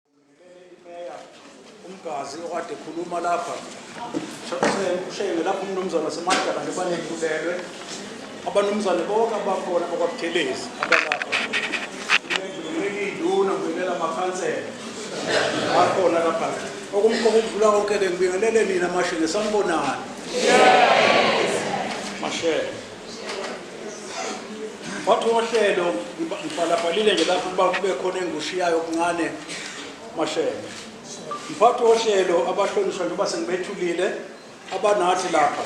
Ngimele iMeya uMgazi okade ekhuluma lapha. Ushenge lapho umnumzane waseMadala njengoba nethulelwe. Abanumzane bonke abakhona bakwaButhelezi abalapha. Ngimele iy'nduna, ngibingelela amakhansela akhona lapha. Okumqoka ukudlula konke-ke ngibingelele nina Mashenge, sanibonani? Mashenge. Mphathi wohlelo ngibhalabhalile nje lapho ukuba kube khona engushiyayo okuncane mashele. Mphathi wohlelo abahlonishwa njengoba sengibethulile abanathi lapha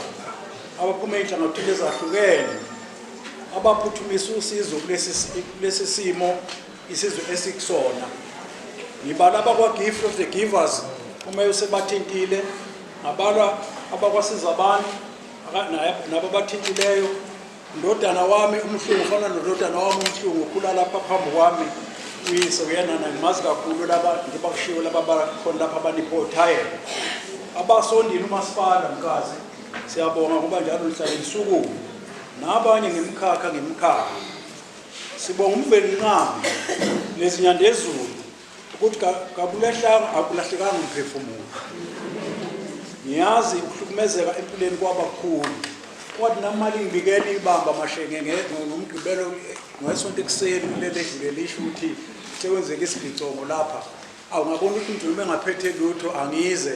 abaphuma ey'nhlangothini ezahlukene abaphuthumisa usizo kulesi simo isizwe esikusona ngibala abakwa-gift of the givers uma usebathintile ngabalwa abakwasiza abantu nabo bathintileyo ndodana wami umhlungu ufana nododana wami umhlungu ukhula lapha phambi kwami uyise uyena nangimazi kakhulu laba ngiba kushiwo laba bakhona lapha abaniphothayela abasondile umasipala mkazi siyabonga ngoba njalo nihlale nisukume nabanye ngemkhakha ngemkhakha sibonga umveli nqama nezinyandezulu ukuthi kakulehlanga akulahlekanga umphefumulo ngiyazi ukuhlukumezeka empilweni kwaba kukhulu kwathi namali ngibikela ibamba amashenge ngomgqibelo ngesonto ekuseni kulele edlule lisho ukuthi sekwenzeka isigicongo lapha awungabona ukuthi ngidlulume ngaphethe lutho angize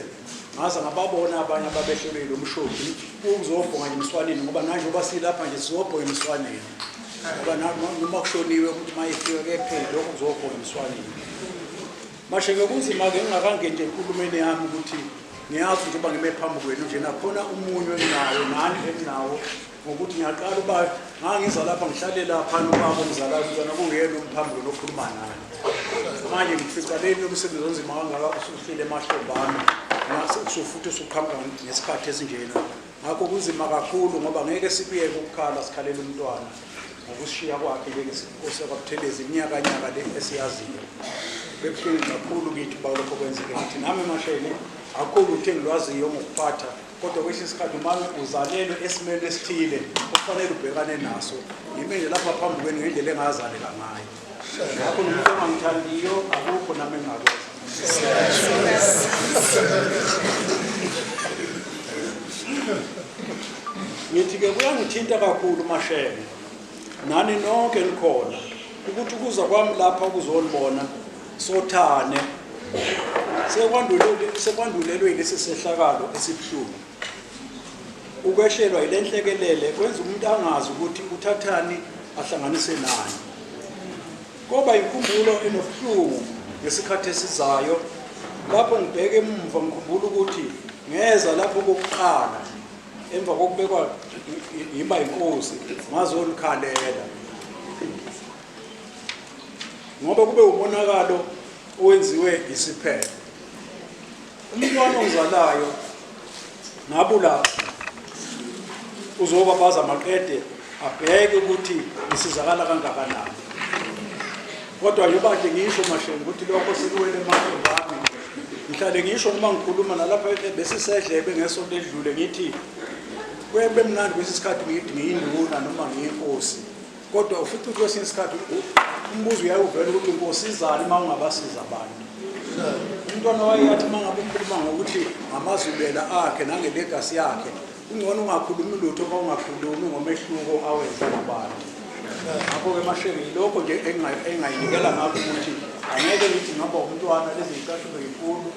ngaze ngababona abanye ababehlulile umshodi ukuzobhonga emswaneni ngoba nanje uba silapha nje sizobhonga emswaneni ngoba noma kushoniwe ukuthi uma efika kephele lokho kuzohoyiswa nini mashe ngekunzima-ke ngingakangeni nje enkulumeni yami ukuthi ngiyazi njengoba ngime phambi kwenu nje nakhona umunyu enginawo nani enginawo ngokuthi ngiyaqala uba ngangiza lapha ngihlale lapha nobaba omzalayo kuzona kuyena umphambi kwenu okhuluma naye manje ngifica leni umsebenzi onzima kangaka usuhlile emahlomba ami usufuthi usuqhamuka ngesikhathi esinjena Ngakho kunzima kakhulu ngoba ngeke sikuyeke ukukhala sikhalela umntwana ngokushiya kwakhe njengesinkosi yakwaButhelezi iminyakanyaka le esiyaziyo. Bekuhlungu kakhulu kithi uba lokho kwenzeke kithi. Nami emasheni akukho lutho engilwaziyo ngokuphatha kodwa kwesinye isikhathi uma uzalelwe esimeni esithile okufanele ubhekane naso ngime nje lapha phambi kwenu ngendlela engazaleka ngayo Ngakho nomuntu ongangithandiyo akukho nami engakwenza. Ngithi-ke kuyangithinta kakhulu mashebe nani nonke nikhona ukuthi ukuza kwami lapha ukuzolibona sothane sekwandulelwe sekwandulelwe lesi sehlakalo esibuhlungu Ukwehlelwa yile nhlekelele kwenza umuntu angazi ukuthi uthathani ahlanganise nani. Koba inkumbulo enobuhlungu ngesikhathi esizayo lapho ngibheke emumva ngikhumbula ukuthi ngeza lapho kokuqala emva kokubekwa yimba inkosi ngazolukhalela ngoba kube umonakalo owenziwe isiphepho Umntwana ongizalayo ngabulawa uzobabaza maqede abheke ukuthi ngisizakala kangakanani kodwa yobade ngisho mashenge ukuthi lokho sikuwele emandleni wami ngihlale ngisho uma ngikhuluma nalapha besisedlebe ngesonto edlule ngithi kube mnandi kwesinye isikhathi ngithi ngiyinduna noma ngiyinkosi kodwa ufica ukuthi kwesinye isikhathi umbuzo uyaye uvela ukuthi ngosizani uma ungabasiza abantu umntwana wayeyathi uma ngabe ukhuluma ngokuthi ngamazubela akhe nangelegasi yakhe kungcono ungakhulumi lutho uma ungakhulumi ngomehluko awenza nabantu ngakho-ke mashenge yilokho nje engayinikela ngakho ukuthi angeke ngithi ngaba umntwana lezi yicathulo yinkulu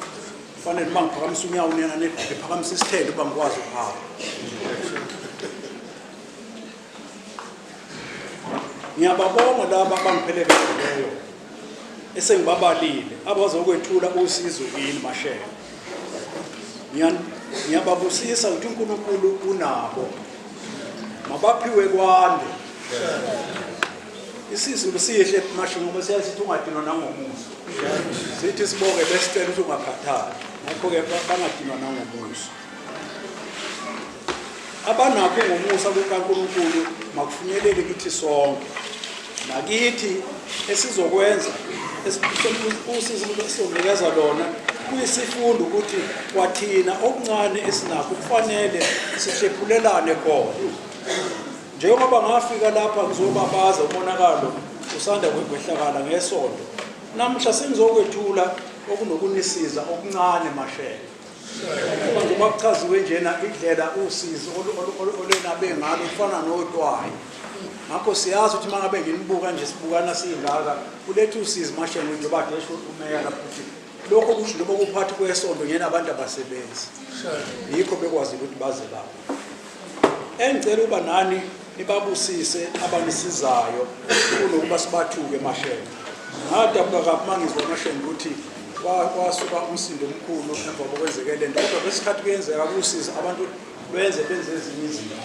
kufanele uma ngiphakamisa unyawo unyanane ngiphakamisa isithende uba ngikwazi ukuhamba Ngiyababonga laba abangiphelekezeleyo esengibabalile abazokwethula usizo kini mashela. Ngiyababusisa ukuthi uNkulunkulu unabo. Mabaphiwe kwande. Isizulu sihle masho ngoba siyasithi ungadinwa nangomuso. Sithi sibonge besicela ukuthi ungakhathali. Ngakho-ke bangadinwa nangomuso. abanakho ngomusa kukaNkulunkulu makufinyelele kithi sonke nakithi esizokwenza usizo esizonikeza lona kuyisifundo ukuthi kwathina okuncane esinakho kufanele sihlephulelane khona njengoba ngafika lapha ngizobabaza umonakalo usanda kwehlakala ngesonto namuhla sengizokwethula okunokunisiza okuncane mashele Uma kuchaziwe njena indlela usizi olwenabe ngalo kufana notwayi ngakho siyazi ukuthi uma ngabe nginibuka nje sibukana siyingaka kuletha usizi mashenge njengoba kesho umeya lapho ukuthi lokho kusho njengoba kuphathi kwesonto ngena abantu abasebenzi yikho bekwazi ukuthi baze lapho engicela uba nani Nibabusise abanisizayo kunokuba sibathuke mashenge. Ngadabuka kabi mangizwa amashenge ukuthi kwasuka umsindo omkhulu emva kokwenzeke le nto kodwa kwesikhathi kuyenzeka kusiza abantu benze benze ezinye izinto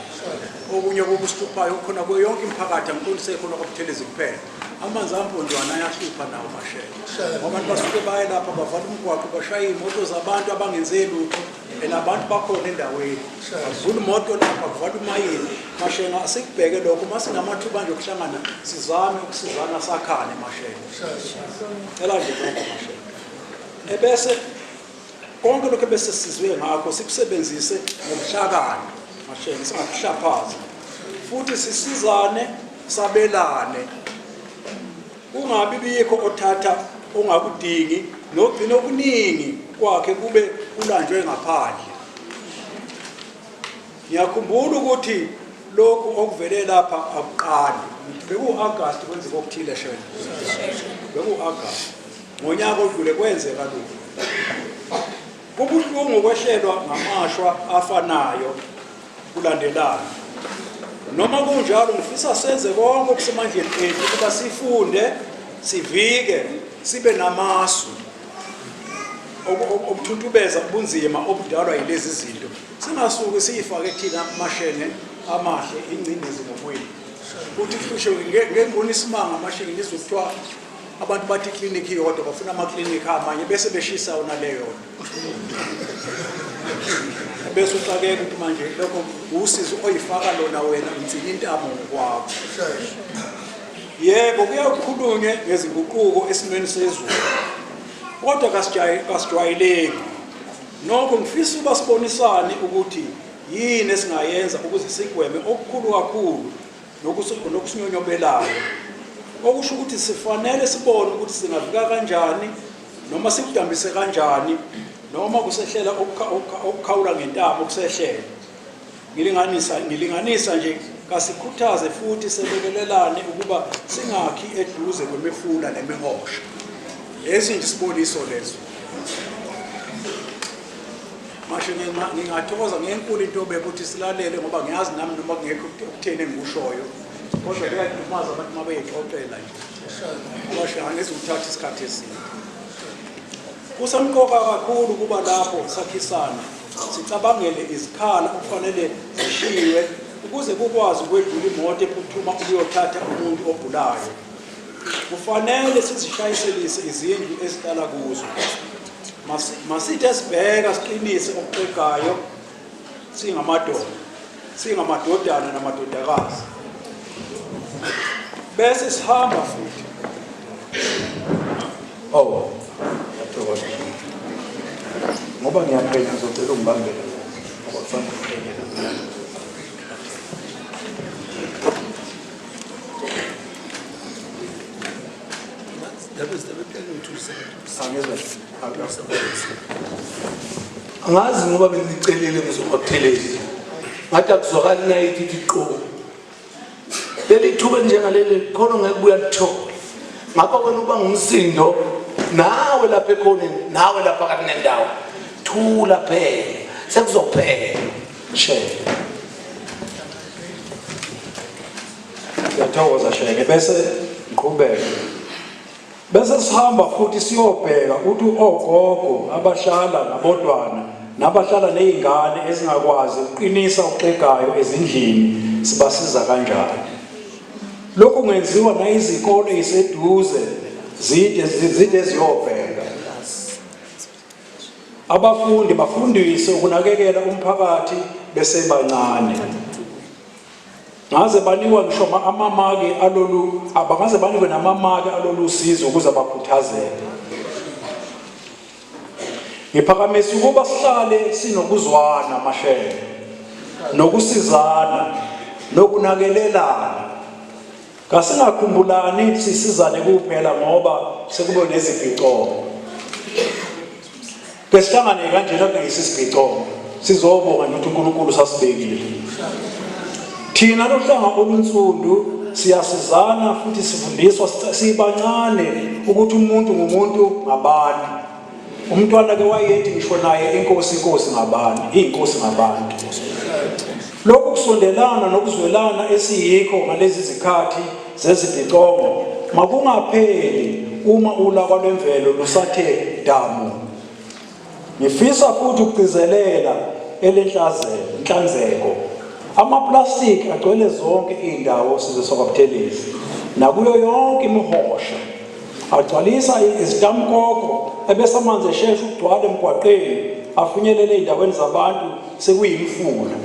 okunye kokusihluphayo okukhona kuyo yonke imiphakathi angiqondise khona kwabuthelezi kuphela amanzi amponjwana ayahlupha nawo mashela abantu basuke baye lapha bavala umgwaqo bashaya iy'moto zabantu abangenze lutho and abantu bakhona endaweni kuvula imoto lapha kuvala umayini mashenga sikubheke lokho uma sinamathuba nje okuhlangana sizame ukusizana sakhane mashenga cela nje lokho mashenga ebese konke lokho ebese sizwe ngakho sikusebenzise ngobuhlakani mashenga singakuhlaphazi futhi sisizane sabelane Kungabi bikho othatha ongakudingi nogcina okuningi kwakhe kube kulanjwe ngaphandle. Ngiyakhumbula ukuthi lokhu okuvele lapha akuqali beku-agast kwenzeka okuthile shena beku-agast ngonyaka odlule kwenzeka lokhu Kubuhlungu ukwehlelwa ngamashwa afanayo kulandelana. Noma kunjalo ngifisa senze konke okusemandleni ethu ukuba sifunde, sivike, sibe namasu okuthuntubeza ubunzima obudalwa yilezi zinto. Singasuke siyifake thina amashenge amahle ingcindezi ngokwethu. Kuthi kuhlushwe ngengoni isimanga amashenge ngizwe kuthiwa Abantu bathi iklinikhi iyodwa bafuna amaklinikhi amanye bese beshisa yona leyona bese uxakeka ukuthi manje lokho usizo oyifaka lona wena ngithini intamo ngokwakho yebo kuyakhulunywe ngezinguquko esimweni sezulu kodwa kasijwayeleki nokho ngifisa uba sibonisane ukuthi yini esingayenza ukuze sigweme okukhulu kakhulu nokusinyonyobelayo okusho ukuthi sifanele sibone ukuthi singavika kanjani noma sikudambise kanjani noma kusehlela ukukhawula ngentaba okusehlela ngilinganisa ngilinganisa nje kasikhuthaze futhi selekelelane ukuba singakhi eduze kwemifula nemihosha lesi nje isiboniso leso Mashe ngingathokoza ngenkulu into obekuthi silalele ngoba ngiyazi nami noma kungekho ukutheni engikushoyo kodwa kuyadumaza abantu uma beyixoxela nje basho angezi uthatha isikhathi eside kusemqoka kakhulu ukuba lapho sakhisana sicabangele izikhala okufanele zishiywe ukuze kukwazi ukwedlula imoto ephuthuma ukuyothatha umuntu ogulayo kufanele sizishayiselise izindlu esihlala kuzo Masithe sibheka siqinise okuxegayo singamadoda, singamadodana namadodakazi. Bese sihamba futhi. Oh. Yathokoza. Ngoba ngiyaphela ngizocela ungibambele. Ngoba kufanele ngiphele. That was the reply to angazi ngoba bengicelile ngizobabuthelezi ngathi akuzwakali nayithi ithi qobo leli thuba njengaleli khona ngeke buya lithola ngakho wena uba ngumsindo nawe lapha ekhoneni nawe lapha kathi nendawo thula phela sekuzophela shela ngiyathokoza sheke bese ngiqhubeke Bese sihamba futhi siyobheka ukuthi ogogo abahlala nabodwana nabahlala nezingane ezingakwazi ukuqinisa uxegayo ezindlini sibasiza kanjani. Lokhu kungenziwa nayizikole iseduze zide zide ziyobheka. Abafundi bafundiswe ukunakekela umphakathi besebancane. Ngaze banikwa ngisho amamaki alolu abangaze banikwe namamaki alolu sizo ukuze bakhuthazeke. Ngiphakamisa ukuba sihlale sinokuzwana mashele nokusizana nokunakelelana Kasingakhumbulani sisizane kuphela ngoba sekube nezibhicomo. Ke sihlangane kanjena kungeyisi sibhicomo. Sizobonga ukuthi uNkulunkulu sasibekile. Thina lohlanga olunsundu siyasizana futhi sifundiswa sibancane ukuthi umuntu ngumuntu ngabantu. Umntwana ke wayethi ngisho naye inkosi inkosi ngabani, inkosi ngabantu. Lokhu kusondelana nokuzwelana esiyikho ngalezi zikhathi zezibhicongo makungapheli uma ulaka lwemvelo lusathe damu. Ngifisa futhi ukugcizelela elenhlazelo, inhlanzeko. Amaplastiki agcwele zonke izindawo sizwe sokwabuthelezi nakuyo yonke imihosha. Agcwalisa izitamkoko ebese amanzi eshesha ukugcwala emgwaqeni afinyelele ezindaweni zabantu sekuyimfula.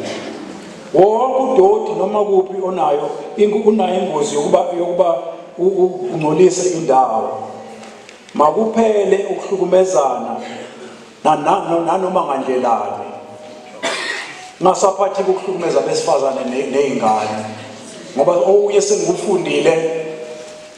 Wonke udoti noma kuphi onayo unayo ingozi yokuba yokuba ungcolise indawo. Makuphele ukuhlukumezana nanoma ngandlelani. Ngasaphathi ukuhlukumeza besifazane nezingane ngoba okunye sengikufundile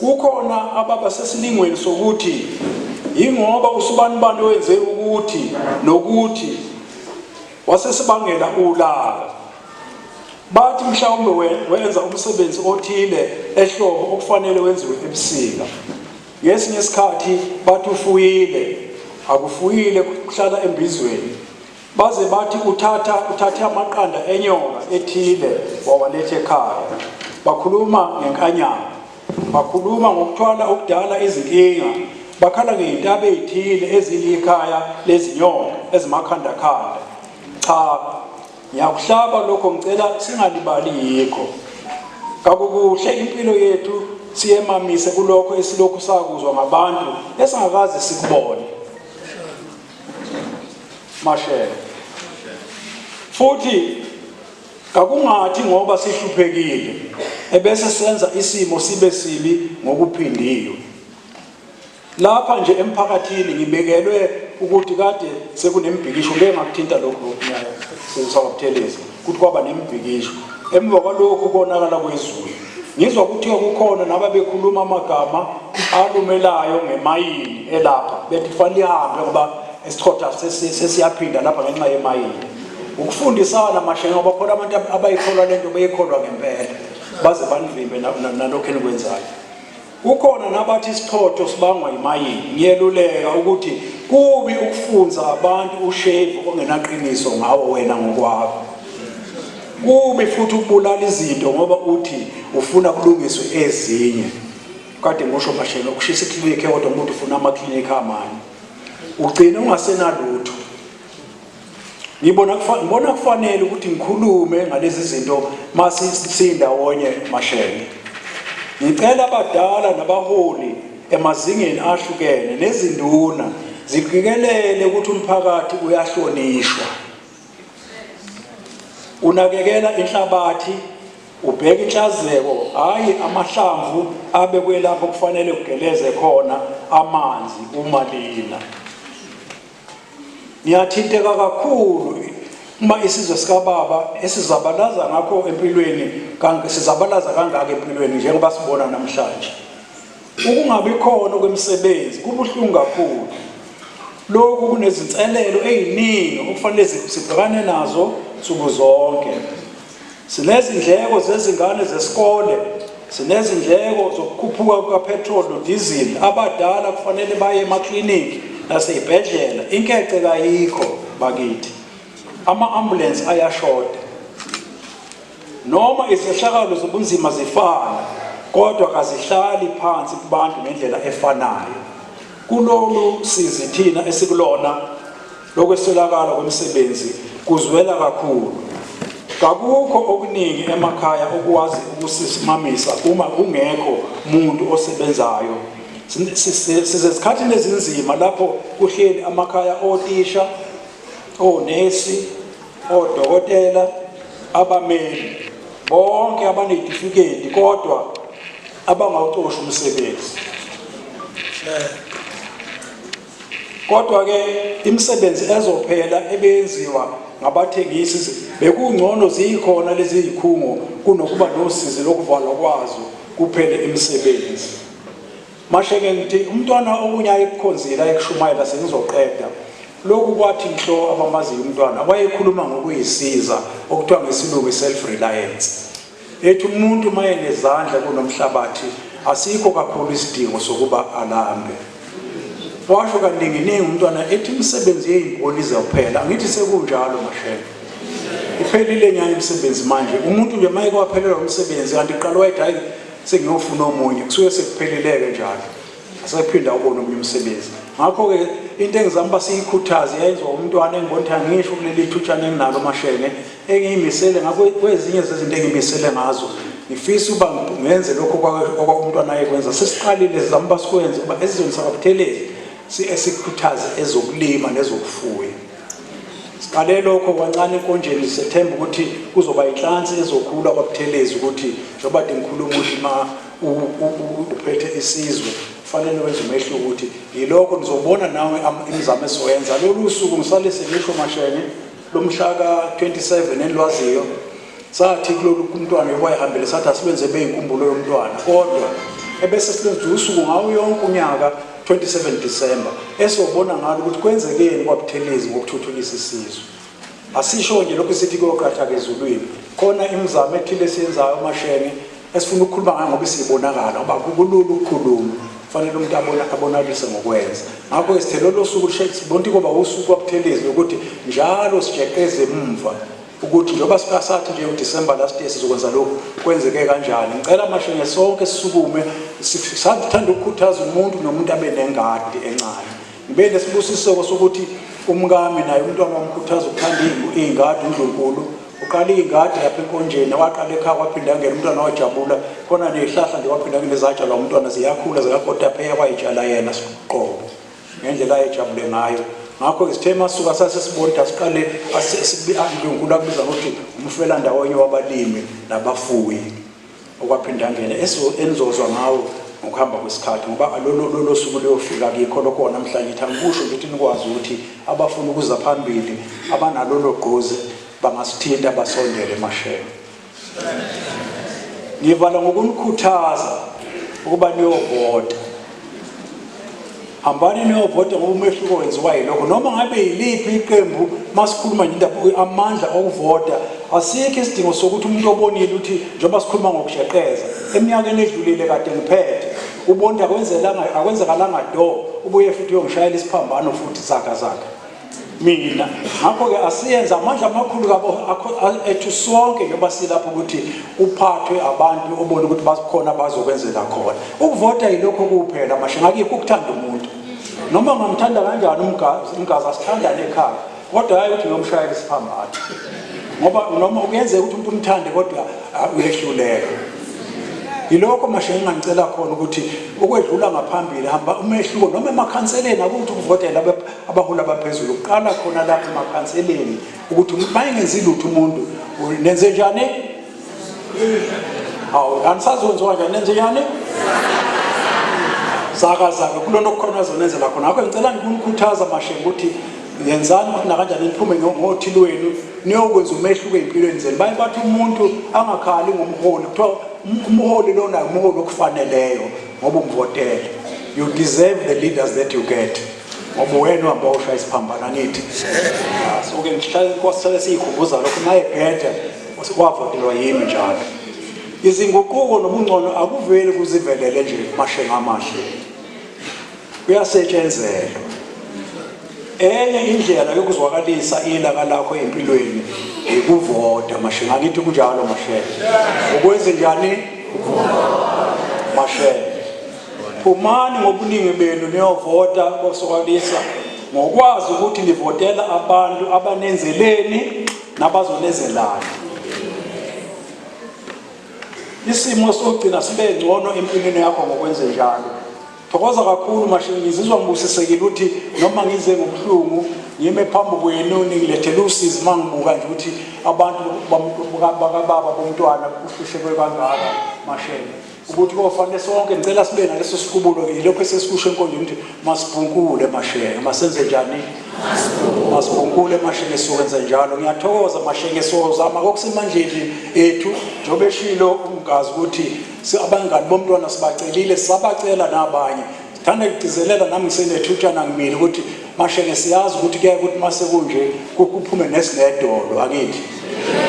Kukhona ababa sesilingweni sokuthi yingoba usubanibani owenze ukuthi nokuthi wasesibangela ulaka. Bathi mhlawumbe wenza umsebenzi othile ehlobo okufanele wenziwe ebusika. Ngesinye isikhathi bathi ufuyile, akufuyile kuhlala embizweni. Baze bathi uthatha uthathe amaqanda enyoka ethile wawaletha ekhaya. Bakhuluma ngenkanyama. Bakhuluma ngokuthwala okudala izinkinga. Bakhala ngey'ntaba ey'thile ezilikhaya lezinyoka ezimakhandakhanda. Cha, ngiyakuhlaba lokho ngicela singalibali yikho. Kakukuhle impilo yethu siyemamise kulokho esilokhu sakuzwa ngabantu esingakaze sikubone. Mashele. Futhi kakungathi ngoba sihluphekile ebese senza isimo sibe sibi ngokuphindiwe. Lapha nje emphakathini ngibekelwe ukuthi kade sekunembhikisho ngeke ngakuthinta lokho nyayo sisawabuthelezi ukuthi kwaba nembhikisho emva kwalokhu konakala kwezulu Ngizwa kuthiwa kukhona nababekhuluma amagama alumelayo ngemayini elapha bethi kufanele ihambe ngoba isichotha sesiyaphinda lapha ngenxa yemayini ukufundisana mashe ngoba khona abantu abayikholwa lento beyikholwa ngempela baze banivimbe nalokho enikwenzayo Kukhona nabathi isichotho sibangwa yimayini. Ngiyeluleka ukuthi kubi ukufunza abantu ushevu ongenaqiniso ngawo wena ngokwakho. Kubi futhi ukubulala izinto ngoba uthi ufuna kulungiswe ezinye. Kade ngosho mashela ukushisa iklinikhi kodwa umuntu ufuna amaklinikhi amanye. Ugcine ungasenalutho. ngibona ngibona kufanele ukuthi ngikhulume ngalezi zinto mase sindawonye mashenge ngicela abadala nabaholi emazingeni ahlukene nezinduna ziqikelele ukuthi umphakathi uyahlonishwa unakekela inhlabathi ubheka inhlazeko hayi amahlamvu abekwelapho kufanele kugeleze khona amanzi uma lina Ngiyathinteka kakhulu uma isizwe sikababa esizabalaza ngakho empilweni sizabalaza kangaka empilweni njengoba sibona namhlanje ukungabi khona kwemisebenzi kubuhlungu kakhulu lokhu kunezinselelo eziningi okufanele sibhekane nazo nsuku zonke Sinezindleko zezingane zesikole, sinezindleko zokukhuphuka kukaphethroli nodizili, abadala kufanele baye emakliniki nasey'bhedlela, inkece kayikho bakithi. Ama-ambulensi ayashoda. Noma izehlakalo zobunzima zifana, kodwa kazihlali phansi kubantu ngendlela efanayo. Kulolu sizi thina esikulona Lokweswelakala kwemisebenzi kuzwela kakhulu. Kakukho okuningi emakhaya okwazi ukusisimamisa uma kungekho muntu osebenzayo. Sizezikhathini ezinzima lapho kuhleli amakhaya otisha, onesi, odokotela, abameli bonke abanezitifiketi kodwa abangawucoshi umsebenzi. Kodwa-ke imisebenzi ezophela ebeyenziwa ngabathengisi bekungcono ziyikhona lezi zikhungo kunokuba nosizi lokuvalwa kwazo kuphele imisebenzi. Mashenge ngithi umntwana okunye ayekukhonzile ayekushumayela sengizoqeda lokhu kwathi nhlo abamaziyo umntwana wayekhuluma ngokuyisiza okuthiwa ngesilungu i-self reliance Ethi umuntu uma enezandla kunomhlabathi asikho kakhulu isidingo sokuba alambe. Washo kaninginingi umntwana ethi imisebenzi yeyimboni izophela. Angithi sekunjalo mashela. Iphelile nyani imisebenzi manje. Umuntu nje maye kwaphelelwa umsebenzi kanti qala wayethi hayi sengiyofuna omunye. Kusuke sekuphelileke njalo. asephinda ubona omunye umsebenzi ngakho-ke into engizama uba siyikhuthaze yayenziwa umntwana engibona ukuthi angisho kuleli thutshana enginalo mashenge engiyimisele ngakho kwezinye zezinto engimisele ngazo ngifisa uba ngenze lokho okwakumntwana ayekwenza sesiqalile sizama uba sikwenze uba esizweni sakabuthelezi sikhuthaze ezokulima nezokufuya siqale lokho kwancane enkonjeni sethemba ukuthi kuzoba inhlansi ezokhula kwabuthelezi ukuthi njengoba de ngikhuluma ukuthi umuntu uphethe isizwe kufanele wenze umehluko ukuthi yilokho nizobona nawe imizamo esizoyenza lolu suku ngisale selisho mashene lomhla ka-27 enilwaziyo sathi kulolu kumntwana yokwayihambele sathi asibenze beyinkumbulo yomntwana kodwa ebese silenza usuku ngawo yonke unyaka 27 December esizobona ngalo ukuthi kwenzekeni kwabuthelezi ngokuthuthukisa isizwe Asisho nje lokhu sithi kuyoqathaka ezulwini. Khona imizamo ethile esiyenzayo amashenge esifuna ukukhuluma ngayo ngoba isibonakala ngoba kulula ukukhuluma fanele umuntu abona abonalise ngokwenza ngakho sithe lolo suku sibonti koba usuku wabuthelezi lokuthi njalo sijeqeze emumva ukuthi njengoba sikasathi nje uDecember last year sizokwenza lokhu kwenzeke kanjani ngicela amashenge sonke sisukume sithanda ukukhuthaza umuntu nomuntu abe nengadi encane Ngibe nesibusiseko sokuthi umkami naye umntwana wamkhuthaza ukuthanda iy'ngadi uNdlunkulu uqala iy'ngadi lapha enkonjeni waqala ekhaya kwaphinda angena umntwana wajabula khona ney'hlahla nje waphinda angena ezatshalwa umntwana ziyakhula zikakotapeya wayitshala yena siqobo ngendlela ayejabule ngayo ngakho-ke sithe masuka sasesibonda siqale uNdlunkulu akubiza ngokuthi umfelandawonye wabalimi nabafuyi okwaphinde angene enizozwa ngawo ngokuhamba kwesikhathi ngoba lolo suku luyofika kikho lokho namhlanje ithi angikusho nje ukuthi nikwazi ukuthi abafuna ukuza phambili abanalolo gqozi bangasithinta basondele emashela ngivala ngokunikhuthaza ukuba niyovota hambani niyovota ngoba umehluko wenziwa yilokho noma ngabe yiliphi iqembu masikhuluma nje indaba amandla okuvota asikho isidingo sokuthi umuntu obonile ukuthi njengoba sikhuluma ngokushaqeza eminyakeni edlulile kade ngiphethe ubonda akwenzekalanga do ubuye futhi uyongishayela isiphambano futhi zaka zaka mina ngakho-ke asiyenze amandla amakhulu kabo ethu sonke njengoba silapho ukuthi uphathwe abantu obona ukuthi bakhona bazokwenzela khona ukuvota yilokho kuphela mashe ngakikho ukuthanda umuntu noma ngamthanda kanjani umgazi asithandane ekhaya kodwa hayi ukuthi ngiyomshayela isiphambano ngoba noma kuyenzeka ukuthi umuntu umthande kodwa ah, uyehluleka yilokho mashe engangicela khona ukuthi ukwedlula ngaphambili hamba umehluko noma emakhanseleni akuthi ukuvotela abaholi abaphezulu uqala khona lapho emakhanseleni ukuthi uma engenzi lutho umuntu nenze njani hawu anisazonziwa njani nenze njani zakazaka kulona okukhona azonenzela khona ngakho ngicela ngikunikhuthaza mashenge ukuthi yenzani ukuthi nakanjani niphume ngothili wenu niyokwenza umehluko ey'mpilweni zenu baye bathi umuntu angakhali ngomholi kuthiwa umholi lona umholi okufaneleyo ngoba umvotele you deserve the leaders that you get ngoba wena uhamba oshaya isiphambana ngithi soke ngihlale siyikhumbuza lokho naye bhede wavotelwa yimi njalo izinguquko nobungcono akuveli kuzivelele nje mashenga amahle kuyasetshenzelwa enye indlela yokuzwakalisa ilaka lakho empilweni yikuvota mashenga ngithi kunjalo mashenga ukwenze njani mashenga Phumani ngobuningi benu niyovota kosokwalisa ngokwazi ukuthi nivotela abantu abanenzeleni nabazonezelani. Isimo sokugcina sibe ngcono empilweni yakho ngokwenze njalo. Thokoza kakhulu mashini ngizizwa ngibusisekile ukuthi noma ngize ngobuhlungu ngime phambi kwenu ningilethele usizi uma ngibuka nje ukuthi abantu bakababa bomntwana kuhlushekwe kangaka mashele. ukuthi kofanele sonke ngicela sibe naleso siqubulo ke lokho esesikusho enkonjeni ukuthi masibhunkule mashenge masenze njani masibhunkule mashenge siwenze njalo ngiyathokoza mashenge sozama kokusemandleni ethu njengoba eshilo umgazi ukuthi abangani bomntwana sibacelile sabacela nabanye thanda ngigcizelela nami ngisenethutshana ngimile ukuthi mashenge siyazi ukuthi kuyaye ukuthi mase kunje kuphume nesinedolo akithi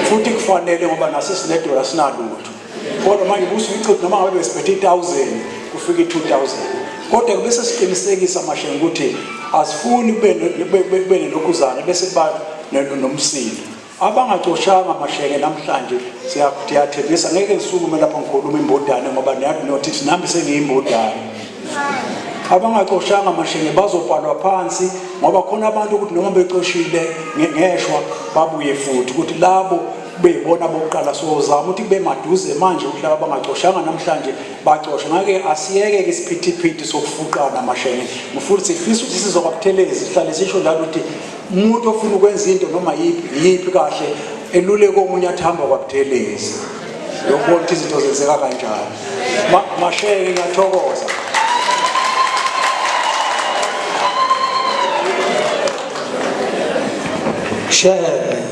futhi kufanele ngoba nasesinedolo asinalutho kodwa manje kusuke ichiphu noma ngabe besiphethe i-1000 kufika i-2000 kodwa kube sesiqinisekisa mashe ukuthi asifuni kube nelokhuzana bese kuba nomsindo abangacoshanga masheke namhlanje siyathembisa ngeke ngisukume lapho ngikhuluma imbodane ngoba notithi nami sengiyimbodane abangacoshanga mashenge bazobhalwa phansi ngoba khona abantu ukuthi noma becoshile ngeshwa babuye futhi ukuthi labo kube yibona bokuqala sozama ukuthi kube maduze manje ukuthi laba bangacoshanga namhlanje bacoshe ngake asiyeke ke isiphithiphithi sokufuqana mashenge mfuna sifisa ukuthi sizoba buthelezi sihlale sisho njalo ukuthi umuntu ofuna ukwenza into noma yiphi yiphi kahle eluleko omunye athamba kwabuthelezi yokubona ukuthi izinto zenzeka kanjani mashenge ngiyathokoza share